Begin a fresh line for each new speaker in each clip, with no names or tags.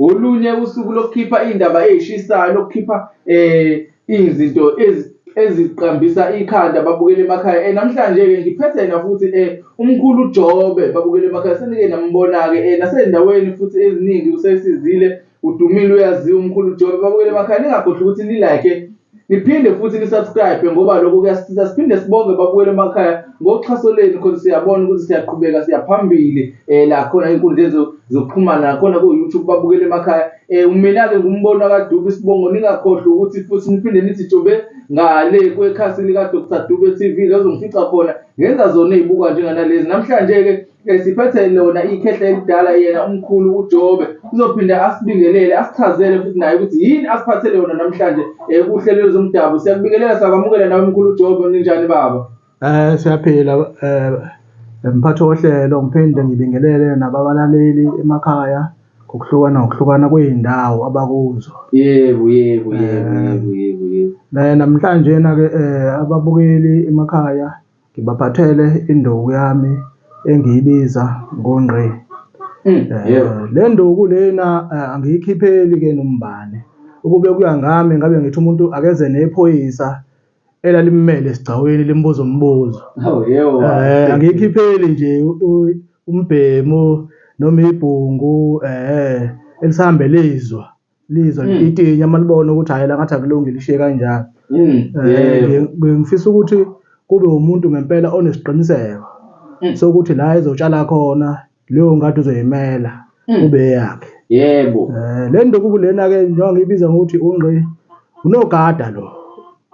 Ngolunye usuku lokukhipha iy'ndaba ey'shisayo lokukhipha um izinto eziqambisa ikhanda babukele emakhaya. Um namhlanje-ke ngiphethe yena futhi um umkhulu uJobe babukele emakhaya senike nambona-ke um nasey'ndaweni futhi eziningi usesizile udumile uyaziwa umkhulu uJobe babukele emakhaya ningakhohlwa ukuthi ni-like-e. Niphinde futhi ni subscribe ngoba lokho kuyasisiza siphinde sibonge babuyele emakhaya ngoxhaso lenu khona siyabona ukuthi siyaqhubeka siyaphambili eh la khona inkundleni zokuxhumana nakhona ku YouTube babukele emakhaya eh mina ke ngumbono kaDube sibongo ningakhohlwa ukuthi futhi niphinde nithi jobe ngale kwekhasi lika Dr Dube TV lozongifica khona ngenza zona ezibuka njenganalezi namhlanje ke Esiphethe lona ikhehla elidala yena umkhulu uJobe uzophinde asibingelele asichazele futhi naye ukuthi yini asiphathele yona namhlanje eh, kuhlelo lwezomdabu. Siyakubingelela sakwamukela nawe mkhulu uJobe ninjani baba? Eh siyaphila
eh mphathi wohlelo ngiphinde ngibingelele nababalaleli emakhaya ngokuhlukana ngokuhlukana kwey'ndawo abakuzo. Yebo yebo
yebo Eh. yebo yebo
yebo. Eh, Namhlanje na-ke eh ababukeli emakhaya Ngibaphathele induku yami engiyibiza ngongqi. Mm, Eh, yebo. le nduku lena eh, angiyikhipheli ke nombani ukube kuya ngami ngabe ngithi umuntu akeze nephoyisa elalimmele esigcawini limbuza umbuzo Oh, yebo. Eh, angiyikhipheli nje u- u- umbhemu noma ibhungu eh elisihambele izwa lizwa hmm. lititinya uma libona ukuthi hhayi la ngathi akulungi lishiye kanjalo hmm. eh, ngifisa ukuthi kube umuntu ngempela onesiqiniseko hmm. sokuthi la ezotshala khona leyo ngadi uzoyimela kube eyakhe yebo eh,
le ndukuku
lena-ke njengoba ngiyibiza ngokuthi ungqi unogada lo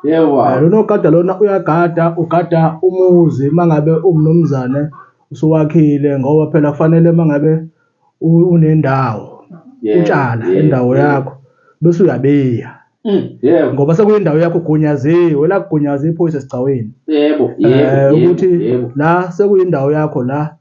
yebo eh, lonogada lona uyagada ugada umuzi uma ngabe umnumzane usuwakhile ngoba phela kufanele uma ngabe u- unendawo Yebo, utshala yebo, indawo yebo. yakho bese uyabiya Mm, yebo ngoba sekuyindawo yakho ugunyaziwe la kugunyaza iphoyisa esigcawini yebo Eh, yebo ukuthi yebo, yebo la sekuyindawo yakho la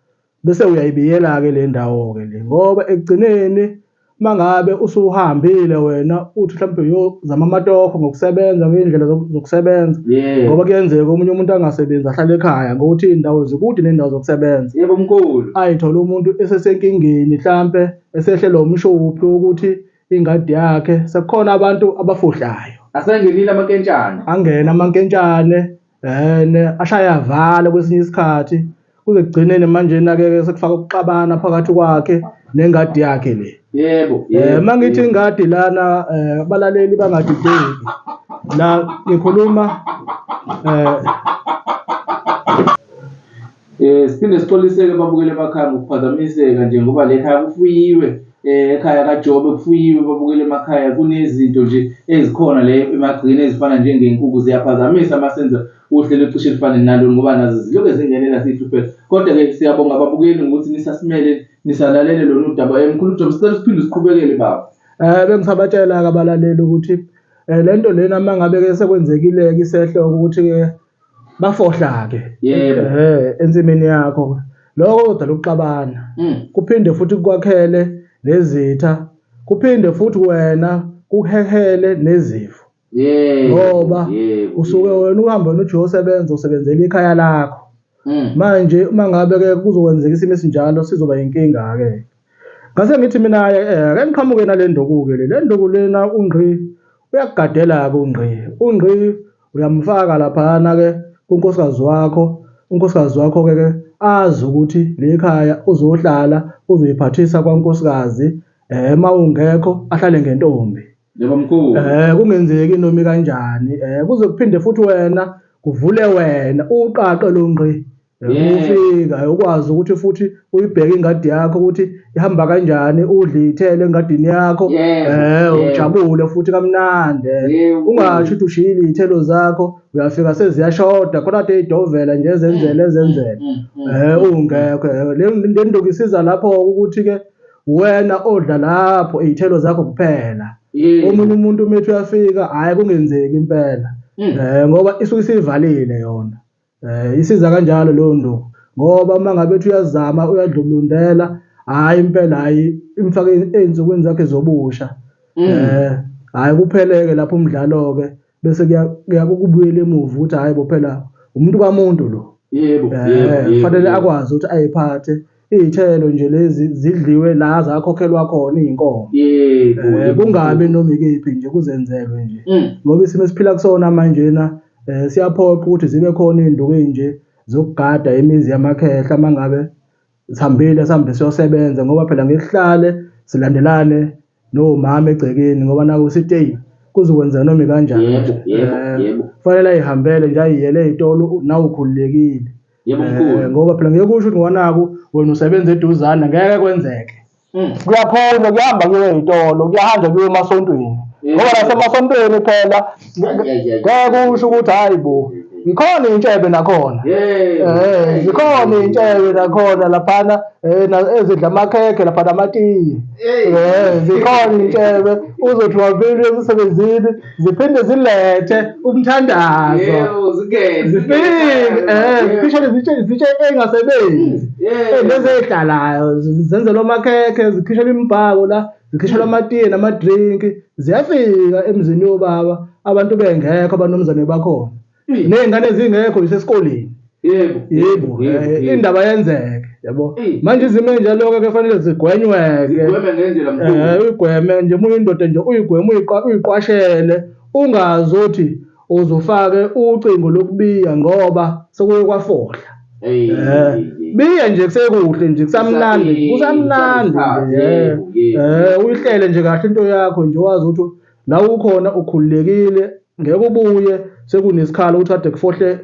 bese uyayibiyela-ke le ndawo-ke le ngoba ekugcineni mangabe usuhambile wena uthi mhlawumbe uyozama amatokho ngokusebenza ngey'ndlela zokusebenza yebo ngoba kuyenzeka omunye umuntu angasebenzi ahlale ekhaya ngokuthi iy'ndawo zikude ney'ndawo zokusebenza yebo mkhulu
ayithole umuntu
esesenkingeni mhlampe esehlelwa umshophi wokuthi ingadi yakhe sekukhona abantu abafuhlayo asengenile
amankentshane angena amankentshane
and ashaya avale kwesinye isikhathi kuze kugcineni manje nake sekufaka ukuxabana phakathi kwakhe nengadi yakhe le yebo eh
mangithi ingadi
lana eh, abalaleli bangadideki la ngikhuluma eh
Eh siphinde sixoliseke babukeli emakhaya ngokuphazamiseka nje ngoba le khaya kufuyiwe eh, ekhaya kaJobe kufuyiwe babukeli emakhaya kunezinto nje ezikhona le emagcini ezifana njengenkukhu ziyaphazamisa masenza uhlelo cishe lifane nalo ngoba nazo ziloke zingenela sihlupheka kodwa ke siyabonga babukeli ngokuthi nisasimele nisalalele lolu daba emkhulu eh, Jobe sicela siphinde siqhubekele baba eh bengisabatshela
ke abalaleli ukuthi eh, lento lena mangabe ke sekwenzekile ke isehlo ukuthi ke bafohla ke Yebo. eh ensimini yakho lokho kudala ukuxabana Mm. kuphinde futhi kukwakhele nezitha kuphinde futhi wena kuhehele nezifo Yebo. ngoba Yebo. usuke wena uhamba nothi uyosebenza usebenzela ikhaya lakho Mm. manje uma ngabe ke kuzokwenzeka isimo esinjalo sizoba inkinga ke Ngase ngithi mina-ke eh, ake ngiqhamuke nale nduku-ke le. Le nduku lena uNgqi uyakugadela-ke uNgqi. UNgqi uyamfaka laphayana-ke kunkosikazi wakho. Unkosikazi wakho-ke ke azi ukuthi le khaya uzohlala uzoyiphathisa kwankosikazi um uma ungekho ahlale ngentombi Yebo mkhulu.
Eh kungenzeki nomi
kanjani. Eh kuze kuphinde futhi wena kuvule wena uqaqe lo ngqi ukufika ukwazi ukuthi futhi uyibheke ingadi yakho ukuthi ihamba kanjani udle ithele engadini yakho eh ujabule futhi kamnandi ungasho ukuthi ushiyile ithelo zakho uyafika seziyashoda khona kade idovela nje ezenzele ezenzele mm, mm, mm. eh ungekho le ndoku isiza lapho ukuthi ke wena odla lapho izithelo zakho kuphela omunye umuntu umethi uyafika hayi kungenzeki impela eh ngoba isuke isivalile yona Eh isiza kanjalo leyo nduku ngoba uma ngabe ethi uyazama uyadlulundela hhayi impela hhayi imfake ey'nsukwini zakhe zobusha um mm. eh, hhayi kuphele-ke lapho umdlalo-ke bese kuyakukubuyela emuva ukuthi hhayi bo phela umuntu kamuntu lo yebo eh,
kufanele
akwazi ukuthi ayiphathe Iy'thelo nje lezi zidliwe la zakhokhelwa khona iy'nkomo. Yebo. Eh, yebo. kungabi noma ikephi nje kuzenzelwe nje Mm. ngoba isimo esiphila kusona manjena um siyaphoqa ukuthi zibe khona iy'nduku ey'nje zokugada imizi yamakhehla uma ngabe sihambile sihambe siyosebenza ngoba phela ngeke sihlale silandelane nomama egcekeni ngoba naku sithi eyi kuzokwenzeka noma ikanjani Yebo, yebo, Eh, yebo.
kufanele ayihambele
nje ayiyele ey'tolo nawukhululekile yebo Eh, mkhulu ngoba phela ngeke usho ukuthi ngonaku wena usebenza eduzane ngeke kwenzeke Mm. kuyakhona kuhamba kuye ey'tolo kuyahanjwa kuye emasontweni Yeah. ngoba nasemasontweni phela Yeah, yeah, yeah. ngeke usho ukuthi hhayi bo ngikhona iy'ntshebe nakhona Hey. Eh, zikhona iy'ntshebe nakhona laphana eh, na- ezidla amakhekhe laphana amatiye Hey. Eh, zikhona iy'ntshebe uzothi wavile emsebenzini ziphinde zilethe umthandazo Yebo, zingene. zifike eh ziphishane zitshe zitshe engasebenzi Yeah. Eh, lezi ezihlalayo zi- zenzelwa amakhekhe zikhishelwa imibhako la zikhishelwa amatiye namadrinki ziyafika emzini yobaba abantu bengekho abanomzane bakhona nezingane ezingekho nje esikoleni yebo yebo eh, indaba yenzeke yabo manje izimo enjalo-ke kufanele zigwenywe-ke eh, uyigweme nje uma uyindoda nje uyigweme uyiqwashele ungazothi uzofake ucingo lokubiya ngoba sekuye kwafohla um biya nje kusekuhle nje kusamnandi kusamnandi nje um uyihlele nje kahle into yakho nje wazi ukuthi la ukhona ukhululekile ngeke ubuye sekunesikhala ukuthi ade kufohle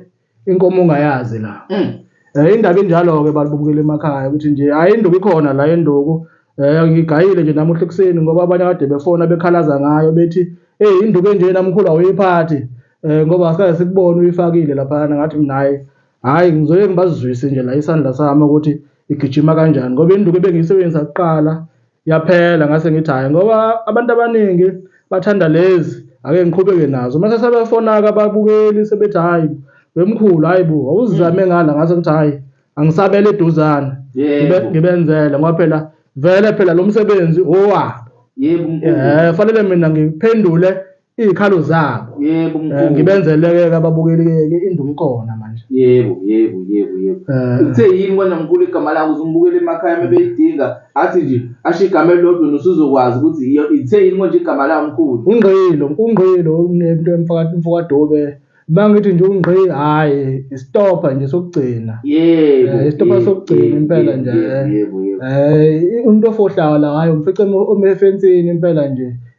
inkomo ongayazi la mm. eh indaba enjalo ke balibukela emakhaya ukuthi nje hayi induku ikhona la enduku eh ngigayile nje namuhla ekuseni ngoba abanye kade befona bekhalaza ngayo bethi hey induku enje namkhulu awuyiphathi eh ngoba asikaze sikubone uyifakile lapha ngathi mina hayi hayi ngizoye ngibazizwise nje la isandla sami ukuthi igijima kanjani ngoba induku ebengiyisebenzisa kuqala yaphela ngase ngithi hayi ngoba abantu abaningi bathanda lezi ake ngiqhubeke nazo mase sebefonaka ababukeli sebethi hayi wemkhulu hayi bo awuzizame mm. ngala ngase ngithi hayi angisabele eduzane ngibenzele ngoba phela vele phela lo msebenzi owa yebo eh fanele mina ngiphendule iy'khalo zabo yebo Eh, mkhulu ngibenzeleke-ke ababukeli-ke indumkona manje yebo yebo
yebo yebo Eh. uthe yini wena mkhulu igama lakho uzumbukela emakhaya uma beyidinga athi nje asho igama elilodwa nosuzokwazi ukuthi iyo- ithe yini konje igama lawo mkhulu ungqilo ungqilo
unento emfaka- mfokadobe uma ngithi nje ungqi hhayi isitobha nje sokugcina yebo Eh, isitobha yebo, sokugcina yebo, impela yebo, nje yebo, yebo yebo um umuntu ofohlayo la hhayi umfice emo- ome efensini impela nje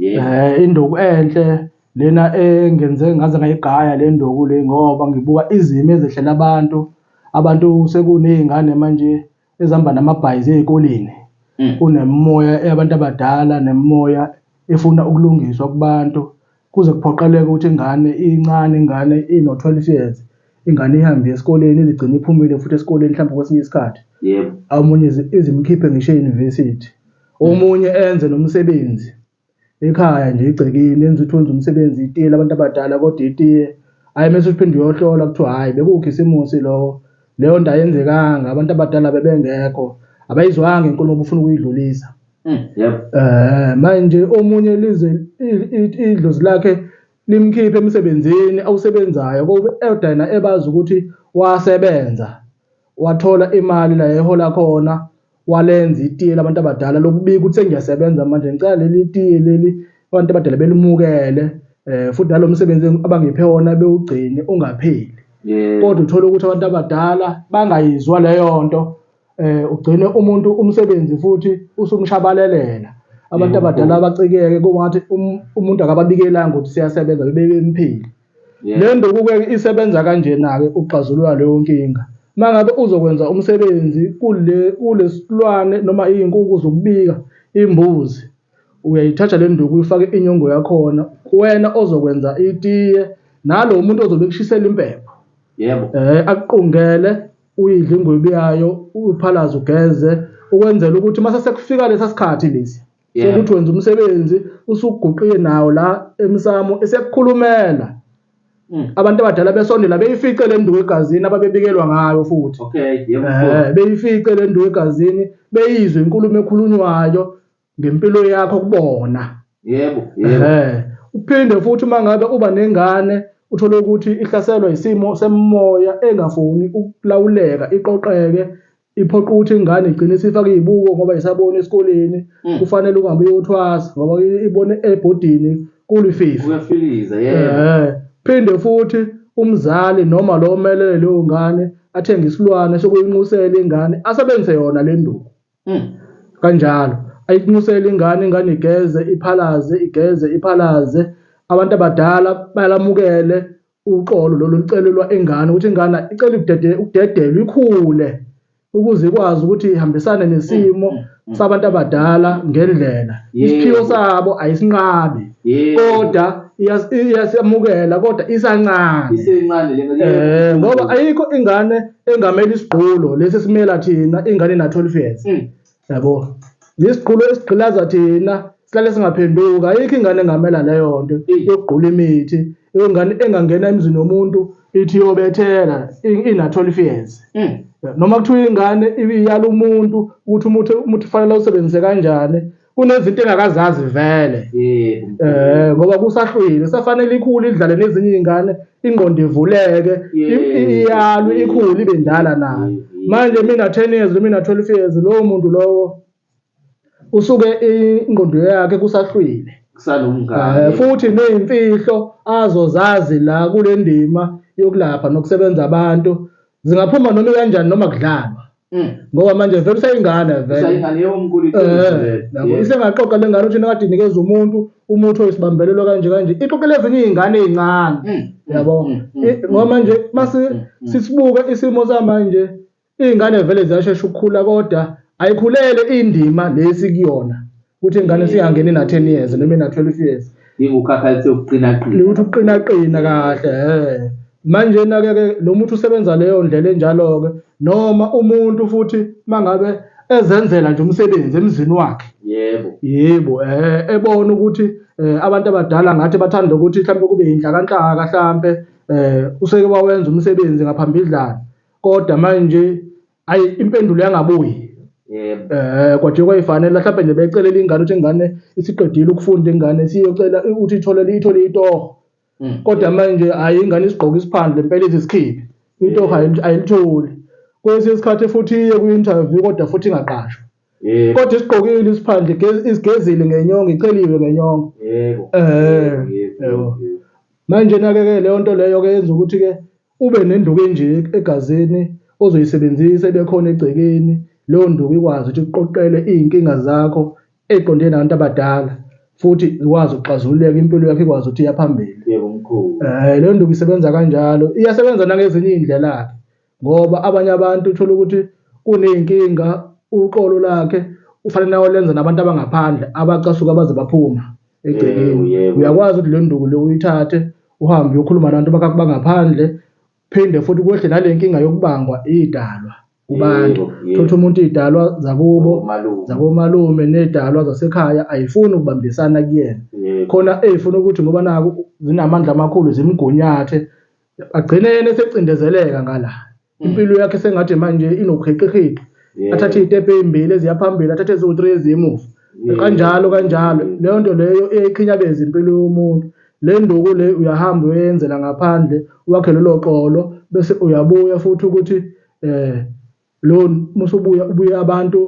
Eh induku enhle lena engenze ngaze ngayigaya le nduku le ngoba ngibuka izimo ezehlela abantu abantu sekuney'ngane manje ezihamba namabhayizi ey'koleni mm. kunemimoya eyabantu abadala nemimoya efuna ukulungiswa kubantu kuze kuphoqeleke ukuthi ingane incane ingane ino-12 years ingane ihambe esikoleni izigcine iphumile futhi esikoleni mhlawumbe kwesinye isikhathi yebo omunye izi- izimkhiphe ngisho e-university omunye enze nomsebenzi ekhaya nje igcekeni enza ukuthi wenza umsebenzi itiye labantu abadala kodwa itiye hhayi mese uphinde uyohlola kuthiwa hhayi bekukho isimusi lowo leyo nto ayenzekanga abantu abadala bebengekho abayizwanga inkulumo obufuna ukuyidlulisa Mm, yebo Eh manje omunye lize i- i- idlozi lakhe limkhiphe emsebenzini awusebenzayo kobe eyodayina ebazi ukuthi wasebenza wathola imali la ehola khona walenza itiye labantu abadala lokubika ukuthi sengiyasebenza manje ngicela leli tiye leli abantu abadala belimukele eh futhi nalomsebenzi abangiphe wona bewugcine ungapheli kodwa uthola ukuthi abantu abadala bangayizwa leyo nto eh ugcine umuntu umsebenzi futhi usumshabalelela abantu abadala abacikeke kungathi um- umuntu akababikelanga ukuthi siyasebenza bebemphile le ndukuke isebenza kanjena-ke ukuxazulula leyo nkinga uma ngabe uzokwenza umsebenzi kule kulesilwane noma iy'nkuku zokubika imbuzi uyayithatha le nduku uyifake inyongo yakhona wena ozokwenza itiye nalo muntu ozobe ekushisela impepho yebo um
akuqungele
uyidle ingwebu yayo uphalaze ugeze ukwenzela ukuthi uma sesekufika lesa sikhathi lesi Yeah. sokuthi wenza umsebenzi usuguqiye nawo la emsamo esekukhulumela Mm. abantu abadala besondela beyifice le nduku egazini ababebikelwa ngayo futhi Okay, yebo. Eh,
beyifice le
nduku egazini beyizwe inkulumo ekhulunywayo ngempilo yakho kubona yebo yebo uphinde futhi uma ngabe uba nengane uthole ukuthi ihlaselwa isimo semimoya engafuni ukulawuleka iqoqeke iphoqa ukuthi ingane igcine isifake izibuko ngoba isabona esikoleni mm. kufanele uhambe uyothwasa ngoba ibone ebhodini kulififi kuyafiliza yeah
phinde futhi
umzali noma lo omelele leyo ngane athenge isilwane sokuyinqusela ingane asebenzise yona le nduku Mm. Kanjalo. Ayikunxusele ingane ingane igeze iphalaze igeze iphalaze abantu abadala balamukele uxolo lolu licelelwa ingane ukuthi ingane icela ukudede ukudedelwa ikhule ukuze ikwazi ukuthi ihambisane nesimo mm, mm, sabantu abadala ngendlela isiphiwo sabo ayisinqabi kodwa iyasamukela kodwa isancane
ngoba ayikho
ingane engamele isigqulo lesi esimela thina ingane na 12 years mm. yabo ngesigqulo esigqilaza thina sihlale singaphenduka ayikho ingane engamela leyo nto mm. yokugqula imithi ingane engangena emzini womuntu ithi yobethela ina 12 years mm. noma kuthiwa ingane iyala umuntu ukuthi umuthi umuthi fanele usebenzise kanjani kunezinto engakazazi vele eh ngoba kusahlwile safanele ikhulu idlale nezinye izingane ingqondo ivuleke iyalwe ikhulu ibe ndala nayo manje mina 10 years mina 12 years lowo muntu lowo usuke ingqondo yakhe kusahlwile kusalomngane eh, futhi nezimfihlo azozazi la kulendima yokulapha nokusebenza abantu zingaphuma noma kanjani noma kudlalwa Mm. ngoba manje vele usayingane veleyabo
eh,
isengaxoxa le ngane ukuthi nakade inikeza umuntu umuthi oyisibambelelo kanje kanje ixoxela ezinye iy'ngane ey'ncane mm, mm, yabo ngoba manje uma sisibuke isimo samanje iy'ngane vele ziyashesha ukukhula kodwa ayikhulele indima le sikuyona ukuthi ingane siyangena ina 10 years noma ina 12 years ingukhakhalithe
ukuqinaqina ukuthi ukuqinaqina kahle eh
manje nake ke lo muntu usebenza leyo ndlela enjalo ke noma umuntu futhi mangabe ezenzela nje umsebenzi emzini wakhe yebo yebo eh ebona ukuthi eh, abantu abadala ngathi bathanda ukuthi mhlawumbe kube yinhlakanhlaka mhlawumbe eh useke wawenza umsebenzi ngaphambilidlana kodwa manje Ayi impendulo yangabuyi. Yebo. Eh kwaje kwayifanele mhlawumbe nje becelele ingane ukuthi ingane isiqedile ukufunda ingane siyocela ukuthi ithole ithole itoho. Mm. Kodwa manje hayi ingane isigqoka isiphandle impela izisikhibi. Itoho ayil- ayilitholi. Kwesinye isikhathi futhi iye kwi-interview kodwa futhi ingaqashwa. Yebo. Kodwa isigqokile isiphandle igez- isigezile ngenyongo iceliwe ngenyongo. Yebo. Eh, Yebo. yebo. Yebo. Manje nake-ke leyo nto leyo-ke yenza ukuthi-ke Ube nenduku enje egazini ozoyisebenzisa ebekhona egcekeni, leyo nduku ikwazi ukuthi ikuqoqele iy'nkinga zakho ey'qondene nabantu abadala futhi zikwazi ukuxazululeka impilo yakho ikwazi ukuthi iya phambili. Yebo mkhulu.
Eh leyo nduku isebenza
kanjalo. Iyasebenza nangezinye iy'ndlela-ke ngoba abanye abantu uthola ukuthi kuney'nkinga uqolo lakhe ufanele ayolenza nabantu abangaphandle abacasuka baze baphuma. egcekeni uyakwazi ukuthi le nduku le uyithathe uhambe uyokhuluma nabantu bangaphandle phinde futhi kwehle nale nkinga yokubangwa idalwa kubantu thotha umuntu idalwa zakubo zakomalume nedalwa zasekhaya ayifuni ukubambisana kuyena khona eyifuna ukuthi ngoba naku zinamandla amakhulu zimgunyathe agcine yena esecindezeleka ngala mm. impilo yakhe sengathi manje inoqheqeqheqe yeah. athathe iy'tebhe ey'mbili eziyaphambili athathe eziwu-three eziyemuva yeah. kanjalo kanjalo mm. leyo nto leyo eyayikhinyabeza impilo yomuntu le nduku le uyahamba uyenzela ngaphandle wakhe lelo qolo bese uyabuya futhi ukuthi eh lo musubuya ubuye abantu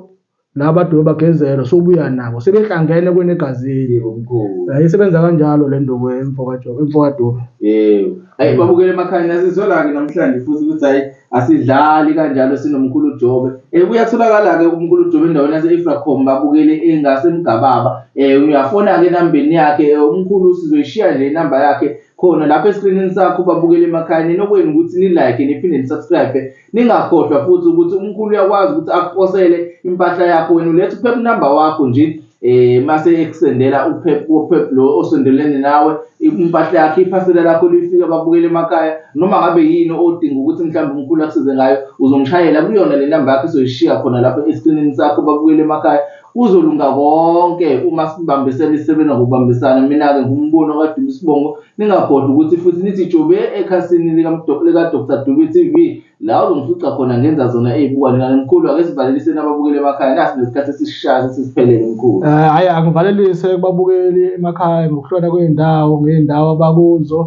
laba dume bagezelwe sobuya nabo sebehlangene kwenegazini yebo mkhulu
yayisebenza kanjalo le
nduku emfokajobe
emfokadume yebo ayi babukele emakhaya nasizolake namhlanje
futhi
ukuthi hayi asidlali kanjalo sinomkhulu jobe eh kuyatholakala ke umkhulu jobe endaweni yase Efracom babukele engase mgababa eh uyafona ke nambeni yakhe eh, umkhulu sizoyishiya nje inamba yakhe khona lapha eskrinini sakho babukele emakhaya ninokwenu ukuthi ni like niphinde ni subscribe Ningakhohlwa futhi ukuthi umkhulu uyakwazi ukuthi akuposele impahla yakho wena uletha uphepha number wakho nje eh mase ekusendela uphepha uphepha lo osondelene nawe impahla yakhe iphasela lakho lifika babukele emakhaya noma ngabe yini odinga ukuthi mhlawumbe umkhulu akusize ngayo uzomshayela kuyona le number yakhe soyishiya khona lapho esiqinini sakho babukele emakhaya Kuzolunga konke uma sibambisene isebenza ngokubambisana mina-ke ngumbono kaDube Sibongo ningakhohlwa ukuthi futhi nithi jobe ekhasini likaDr Dube TV la uzongifica khona ngenza zona ey'bukwane kanti mkhulu ake sivaleliseni ababukeli emakhaya nasi nesikhathi esisishayo sesisiphelele mkhulu um hhayi angivalelise
kubabukeli emakhaya ngokuhlona kwey'ndawo ngey'ndawo abakuzo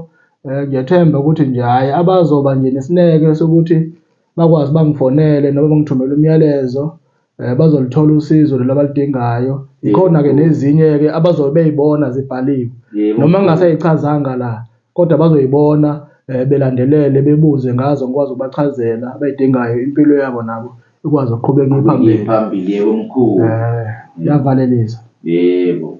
um ngiyethemba ukuthi nje hhayi abazoba nje nesineke sokuthi bakwazi bangifonele noma bangithumele umyalezo eh bazolithola usizo lelo abalidingayo ikhona ke nezinye ke abazobe beyibona zibhaliwe noma ngingasayichazanga la kodwa bazoyibona eh, belandelele bebuze ngazo ngikwazi ukubachazela abayidingayo impilo yabo nabo ikwazi ukuqhubeka iphambili phambili yebo
mkhulu eh
yavalelisa yebo